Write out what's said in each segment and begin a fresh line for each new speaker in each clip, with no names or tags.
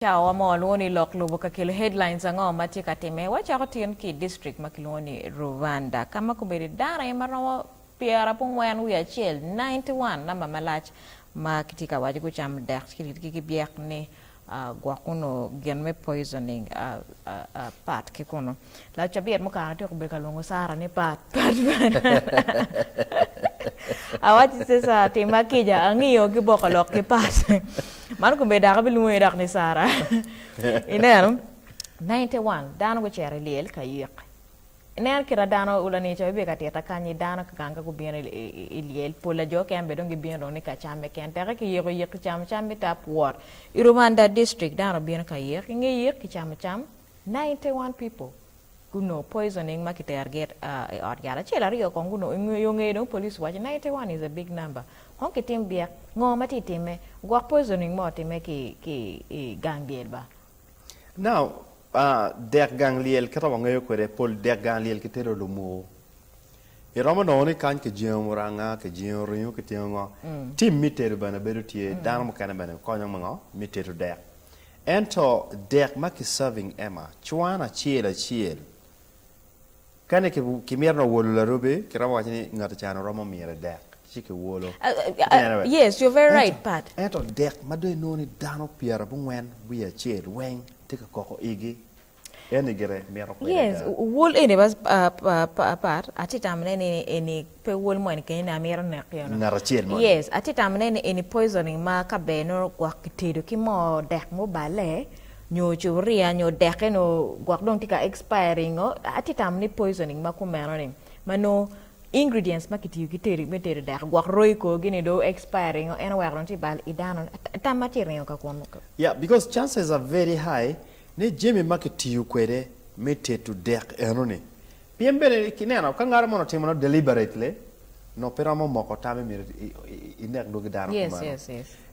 Cawa mo lwongo ni lok lubo ka kelo headlines ango ma tye ka timme. Wacako tin ki i district ma kilwongo ni Ruvanda ka ma kobedo dano aye ma romo pyerapongwen wiye acel, ninety one, namba malac, ma kitye ka waco gucamo dek ki ritgi ki byek ni gwok onongo gin me poisoning part ki kunu. Lacabit mukato atyeko obedo ka lwongo Sara ni pat pat pat awacci Sisa timma kica angiyo ki boko lok ki pat man kome dok abilwongi dok ni Sara ineno 91 dano gucito i lyel ka yik ineno kita dano ulanico bibio ka tita kanyi dano kikanga gubino i lyel pol lajo keken bene dong gibino dong ni ka cam keken teke ki yiko yik ki camo cam me tap wot i Rubanda district dano bino ka yik inge yik ki camo cam Ninety one people gunongo poisoning ma kitero gi i ot yat acel aryo kong gunongo yo nge dong police waco ninety one is a big number kong kitim byek ngo ma tye time gwok poisoning mo time ki ki i gang lyel ba. Now dek gang lyel kit ma wangeyo kwede pol dek gang lyel kitero lumuku iromo nongo ni kany kijengo muranga kijengo ringo kitingo ngo team me tedo bene bedo tye dano mukene bene konyo me ngo me tedo dek. Ento dek ma ki serving Emma cwan acel acel. Kani ki mito nongo wolo larubi ki romo waco ni ngati cano romo mire dek ci ki wolo. Ento dek ma dong inongo ni dano pyera bungwen wiye acel weng tye ka koko igi Yes, wol eni bas apat, atye tamo ne ni eni pe wol mo eni kenyo ni amito nek yo no. Ngat acel mo. Yes, atye tamo ne ni eni poisoning ma ka ber nongo gwok kitedo ki mo dek mo bale nyo cupuria nyo dek eno gwok dong tye ka expiring o atye tamo ni poisoning ma kumeno ni ma nongo ingredients ma kitiyo ki tedo me tedo dek gwok roi korgi ni dong expiring o en oweko dong tye bal i dano tam ma tye ringo ka kun Ya, because chances are very high Ni jami ma kitiyo kwede me tedo dek enoni. Pien bene ineno, ka ngat mono timone deliberately, nongo pe romo moko tam imito inek dwogi dano kumalo.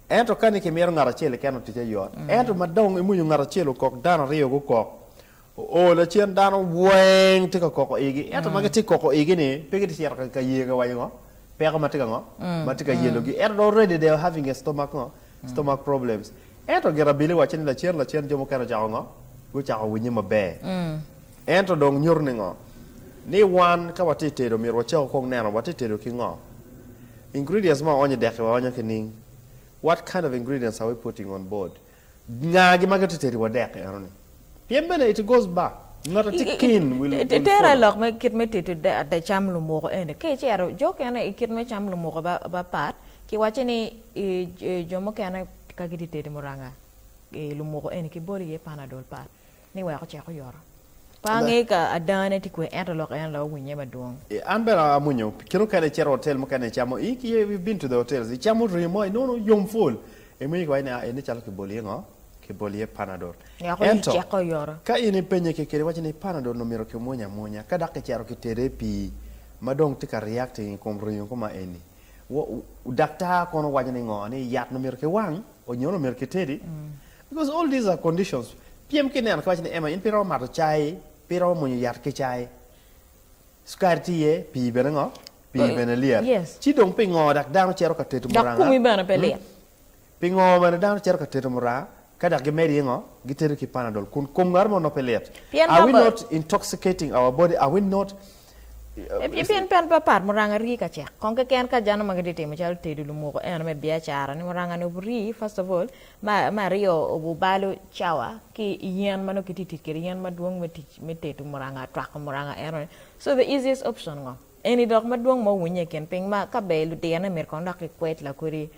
Ento ka ni kimito ngat acel keken otic aye yot. Ento ma dong imwonyo ngat acel okok, dano aryo gukok, oo lacen dano weng tye ka koko igi. Ento ma gitye ka koko igi-ni, pe gitye ka cito ka yee ka waco ngo? Peko ma tye ka ngo? Ma tye ka yelogi. Ento dong already they are having a stomach ngo? stomach problems. Ento gin abili wacce ni lacen lacen jo mukene ocako ngo? Gucako winye maber. Ento dong nyuto ni ngo? Ni wan ka watye i tedo myero wacako kong neno watye tedo ki ngo? Ingredients ma waonyo i deki waonyo ki ning? What kind of ingredients are we putting on board? Nga gi ma gitye tedi wa dek eno ni? Pien bene iti goc ba, ngata ti kin wil polo. Itere lok me kit me tito ada cam lumuko eni, ka icero jo okene i kit me cam lumuko ba pat, ki wacci ni jo mukene ka giti tedo muranga i lumuko eni ki boli iye panadol pat ni wek ocek oyoto. Pe angeyo ka ada ne ti kwe ento lok en la owinye madwong. An bene amwonyo, pi kene okene icito hotel mukene icamo, i, i been to the hotels, icamo ringo mo inongo yom pwol. Iwinyo ki waco ni, 'A, eni calo kiboli iye ngo? Kiboli iye Panadol. Weko iyi Ento, cek oyoto. ka in ipenye kekeni, iwaco ni, 'Panadol-ni omyero kimwony amwonya, ka dok kicito kitede i pii ma dong tye ka reacting i kom ringo koma eni, wo, wo, daktar kono waco ni ngo? Ni yat-ni omyero kiwang, o, nyo ni omyero kitedi? Because all these are conditions. Pyem ki neno, kiwaco ni, 'Emma, in pe iromo mato cai, pe iromo mwonyo yat ki cai. Cukari tye iye, pii bene ngo? Pii bene lyet. Ci dong pingo dak dano cito ka teto muranga? Dok komi bene pe lit. Pingo bene dano cito ka teto muranga, ka dok gimedo yengo, gitedo ki Panadol, kun kom ngat mo nongo pe lit? Are we not intoxicating our body? Are we not? Pien pen papat muranga rii ka cek, kong keken ka jano ma gitye timo calo tedo lumoko eno me biacara ni muranga ni obu rii first of all, me aryo obu balo cawa ki yen ma nongo kitye tic kwede yen madwong me tedo muranga, twako muranga eno ni, so the easiest option ngo? Eni dok madwong ma owinye i kin piny ma ka ber ludirane myero kong dok gikwed lakodi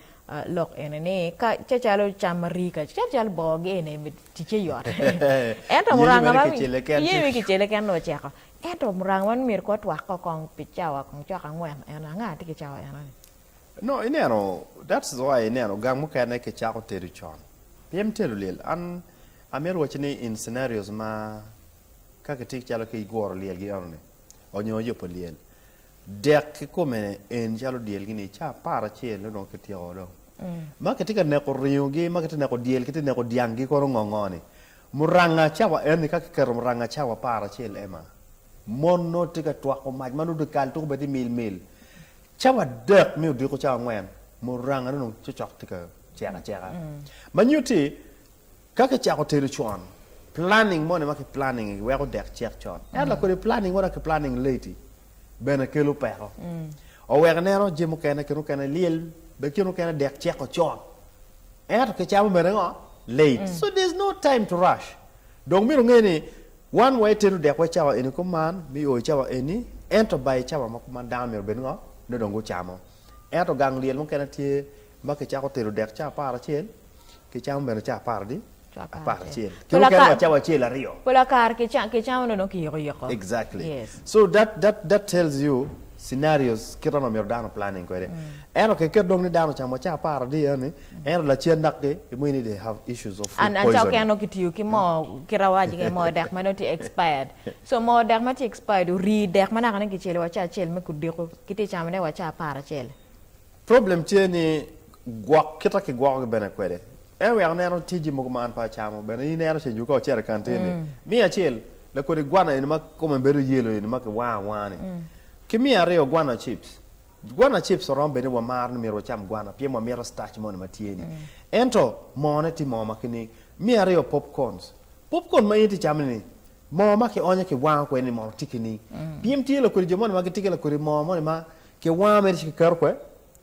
lok eni ni ka calo cam ma rii ka calo calo boo gi eni ticce yot ento muranga ma iye wi kicele ken dong oceko ento muranga ma myero kong watwak ko kong pi cawa kong cok angwen en anga tye ki cawa eno ni. No ineno that's why ineno gang mukene ki cako tedo con pien me telo lyel an amito wacci ni in scenarios ma ka kitye calo ki guro lyel gi eno ni. onyo yubo lyel dek kikome en calo dyel gi ni ca apar acel ne dong kityeko do ma kitye ka neko ringo gi ma kitye neko dyel kitye neko dyang gi kono ngo ngo ni muranga cawa en ni ka kiketo muranga cawa apar acel ema mon no tye ka twako mac ma nongo dikal tuko bene tye mil mil cawa adek mi odiko cawa angwen muranga ne dong cocok tye ka cek aceka ma nyuti Ka kicako tedo con, planning moni ma kiplanning-ngi weko dek cek con. Ento la kodi planning moni ma kiplanning late-ti bene kelo peko. Oweko ineno jami mukene kine mukene lyel, bene kine mukene dek ceko con, ento kicamo bene ngo? Late. So there's no time to rush. Dong myero inge ni wan wa itedo dekwa i cawa eni kuman, me o i cawa eni, ento ba i cawa ma kuman dano myero obed ngo? Nongo dong gucamo. Ento gang lyel mukene tye Ma kicako telo dek ca apar acel, ki camo bene ca apar di apar acel. Ki mukene wa cawa acel aryo. Pol kare ki ki camo dong ki yiko yiko. Exactly. Yes. So that that that tells you scenarios kite ma myero dano planning kwede. Ento ki ket dong ni dano ocamo ca apar adi eni, ento lacen dok ki mo ini they have issues of food poisoning. And and ca okene dong ki tiyo ki mo kite awaco ni mo dek ma dong tye expired. So mo dek ma tye expired ori dek ma naka ni ki celo wa ca acel me kudiko, ki tye camo ne wa ca apar acel. Problem tye ni gwok kita kigwoko gi bene kwede en wek aneno tye jami mogo ma an pe acamo bene in ero ceng ka ocito i kantin ni miya acel lakodi gwana eni ma kome bedo yellow eni ma ki wango awanga ni ki miya aryo gwana chips gwana chips oromo bed ni wa maro ni myero wacam gwana pien wa mito starch moni ma tye ni ento moo ne tye moo ma ki ni miya aryo popcorns popcorn ma in itye camo ni moo ma ki onyo ki wango kwede ni mono tye ki ni pyem tye lakodi jo moni ma gitye ki lakodi moo moni ma Ki wanga mere ci kiketo kwe?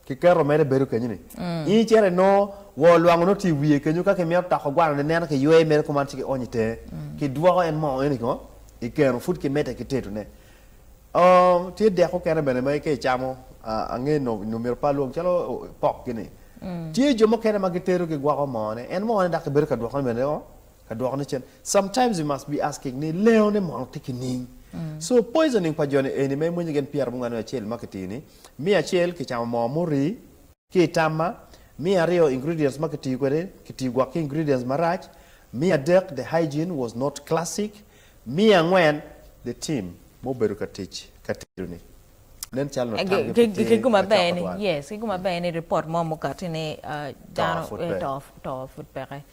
Kiketo mere bedo kenyo ni in icito inongo wor lwango nongo tye i wiye kenyo ka kimito toko gwanone neno kiywe mere kuman ci kionyo itenge kidwoko en moo eno ikongo ikeno pud kimede ki tetone. Oo tye dek mukene bene ma ka icamo ange nongo nongo myero ipa lwong calo pok-ki ni tye jo mukene ma gitedo gigwoko moo-ne en moo-ne dok kibedo ka dwokone bene o Ka dwoko ne cen, sometimes we must be asking ni lengo ne mono tye ki ning? So poisoning pa joni eni ma imwonyo gen pyera mungane acel ma kitiyo ni, me acel kicamo moo muri ki i tamma, me aryo ingredients ma kitiyo kwede kitiyo gwok ki ingredients marac, me adek the hygiene was not classic, me angwen the team ma obedo ka tic ka tedo ni nen calo nongo tamgi pe tye Ki guma ber macok ni, twal. yes, ki guma ber ni report mo mukati ni ah, Too dano pud eh, peke. too, too pud peke.